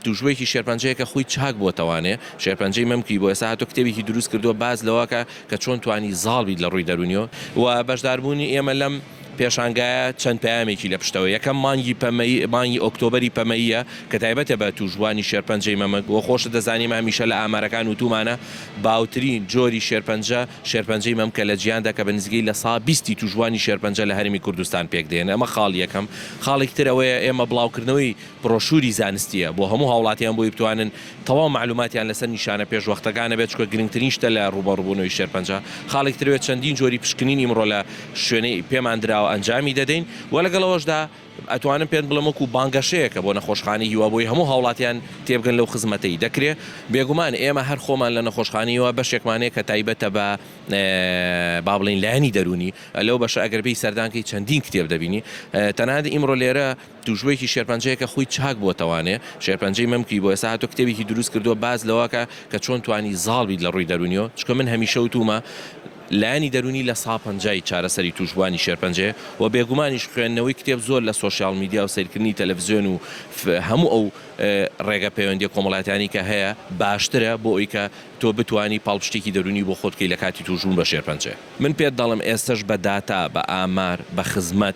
توشبویەکی شێرپەنجەیە کە خوی چاک بۆتەوانێ شێرپەنجەی مەمکی بۆ ئێستا هاتوە کتێبێکی دروست کردوە باس لەوەکە کە چۆن توانی زاڵ بیت لە ڕوی دەرونیەوە وە بەشدار بونی ئێمە لەم پێشانگایە چەند پەیامێکی لە پشتەوە یەکەم مانگی پەمەیی مانگی ئۆکتۆبەری پەمەییە کە تایبەتە بە توشبوانی شێرپەنجەی مەمک وە خۆشت دەزانی ئێمە هەمیشە لە ئامارەکان وتومانە باوترین جۆری شێرپەنجە شێرپەنجەی مەمکە لە جیهاندا کە بە نزیکەی لە سا بیستی توشبوانی شێرپەنجە لە هەرێمی کوردستان پێک دێن ئەمە خاڵ یەکەم خاڵێکی تر ئەوەیە ئێمە بڵاوکردنەوەی برۆشوری زانستییە بۆ هەموو هاوڵاتیان بۆی بتوانن تەواو مەعلوماتیان لەسەر نیشانە پێشوەختەکانە بێت چونکە گرنگترین شتە لە ڕووبەڕووبوونەوەی شێرپەنجە خاڵێک ترەوێت چەندین جۆری پشکنینی ئیمڕۆ لە شوێنەی پێمان دراوە ئەنجامی دەدەین وە لەگەڵ ئەوەشدا ئەتوانم پێت بڵێم وەکو بانگەشەیەکە بۆ نەخۆشخانەی هیوا بۆی هەموو هاوڵاتیان تێبگەن لەو خزمەتەی دەکرێ بێگومان ئێمە هەر خۆمان لە نەخۆشخانەی هیوا بەشێکمان هەیە کە تایبەتە بە با بڵێین لایەنی دەروونی لەو بەشە ئەگەر بێی سەردانکەی چەندین کتێب دەبینی تەنانەت ئیمڕۆ لێرە توشبویەکی شێرپەنجەیە کە خوی چاک بوەتەوانێ شێرپەنجەی مەمکی بۆ ئێستا هاتوە کتێبێکی دروست کردوە باس لەوەکە کە چۆن توانی زاڵ بیت لە ڕوی دەرونیەوە چونکە من هەمیشە وتومە لایەنی دەرونی لە سا پەنجای چارەسەری توشبوانی شێرپەنجەیە وە بێگومانیش خوێندنەوەی کتێب زۆر لە سۆشیال میدیا و سەیرکردنی تەلەفزیۆن و هەموو ئەو ڕێگە پەیوەندیە کۆمەڵاتیانی کە هەیە باشترە بۆ ئەوی کە تۆ بتوانی پاڵپشتێکی دەرونی بۆ خۆت کەی لە کاتی توشبون بە شێرپەنجە من پێت دەڵێم ئێستەش بە داتا بە ئامار بە خزمەت